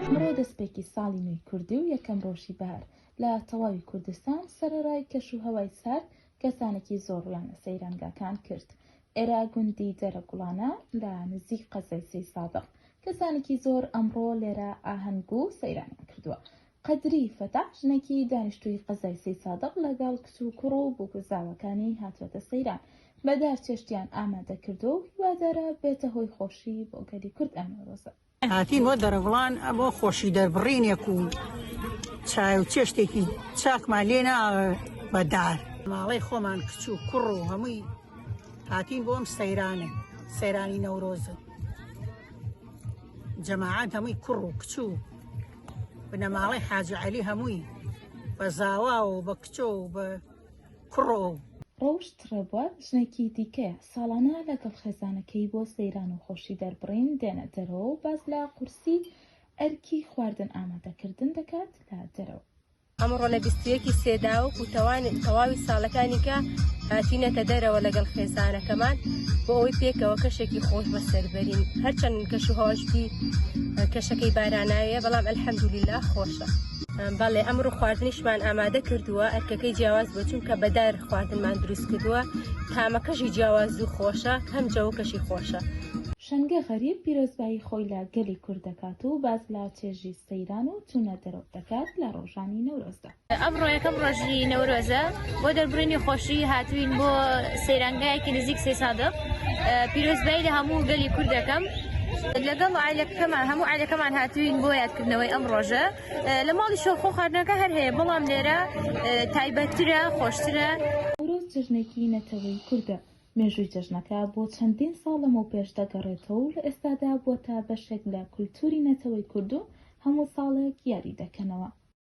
ئەمڕۆ دەسپێکی ساڵی نوێی کوردی و یەکەم ڕۆژی بەهار لە تەواوی کوردستان، سەرەڕای کەش و هەوای سارد کەسانێکی زۆر ڕوویان لە سەیرانگاکان کرد، ئێرە گوندی دێرە گوڵانە لە نزیک قەزای سەی سادق کەسانێکی زۆر ئەمڕۆ لێرە ئاهەنگ و سەیرانیان کردووە قەدری فەتاح ژنێکی دانیشتووی قەزای سەی سادق لەگەڵ کچ و کوڕ و بووکوزاوەکانی هاتووەتە سەیران بە دار چێشتیان ئامادە کردووە و هیوادارە بێتە هۆی خۆشی بۆ گەلی کورد ئەم نەورۆزە. هاتین بۆ دەرەڤڵان بۆ خۆشی دەربڕینێک و چای و چێشتێکی چاکمان لێ نا بەدار ماڵەی خۆمان کچ و کوڕ و هەمووی هاتین بۆم سەیرانە سەیرانی نەورۆزە جەماعات هەمووی کوڕ و کچ و بنەماڵەی حاجعلی هەمووی بە زاوا و بە کچۆ و بە کوڕۆ. ڕۆشت ڕێبوار ژنێکی دیکەیە، ساڵانە لەگەڵ خێزانەکەی بۆ سەیران و خۆشی دەربڕین دێنە دەرەوە و باس لە قورسی ئەرکی خواردن ئامادەکردن دەکات لە دەرەوە. ئەمڕۆ لە بیست و یەکی سێداوک و تەواوی ساڵەکانی کە هاتینەتە دەرەوە لەگەڵ خێزانەکەمان بۆ ئەوەی پێکەوە کەشێکی خۆش بەسەربەرین هەرچەند کەش و هەواشی کەشەکەی باراناویە بەڵام ئەلحەمدولیلا خۆشە. بەڵێ ئەمڕۆ خواردنیشمان ئامادە کردووە ئەرکەکەی جیاواز بۆ چونکە بەدار خواردنمان دروست کردووە تامەکەشی جیاواز و خۆشە هەم جەوەکەشی خۆشە. شەنگە غەریب پیرۆزبایی خۆی لە گەلی کورد دەکات و باس لە چێژی سەیران و چوونە دەرەوە دەکات لە ڕۆژانی نەورۆزدا. ئەمڕۆ یەکەم ڕۆژی نەورۆزە بۆ دەربڕینی خۆشی هاتوین بۆ سەیرانگایەکی نزیک سێ سادق پیرۆزبایی لە هەموو گەلی کورد دەکەم لەگەڵ عیلەکەمان هەموو عیلەکەمان هاتوین بۆ یادکردنەوەی ئەم ڕۆژە لە ماڵی شۆخۆ خواردنەکە هەر هەیە بەڵام لێرە تایبەتترە خۆشترە نەورۆز جەژنێکی نەتەوەی کوردە، مێژووی جەژنەکە بۆ چەندین ساڵ لەمەوپێش دەگەڕێتەوە و لە ئێستادا بووەتە بەشێک لە کولتووری نەتەوەی کورد و هەموو ساڵێک یادی دەکەنەوە.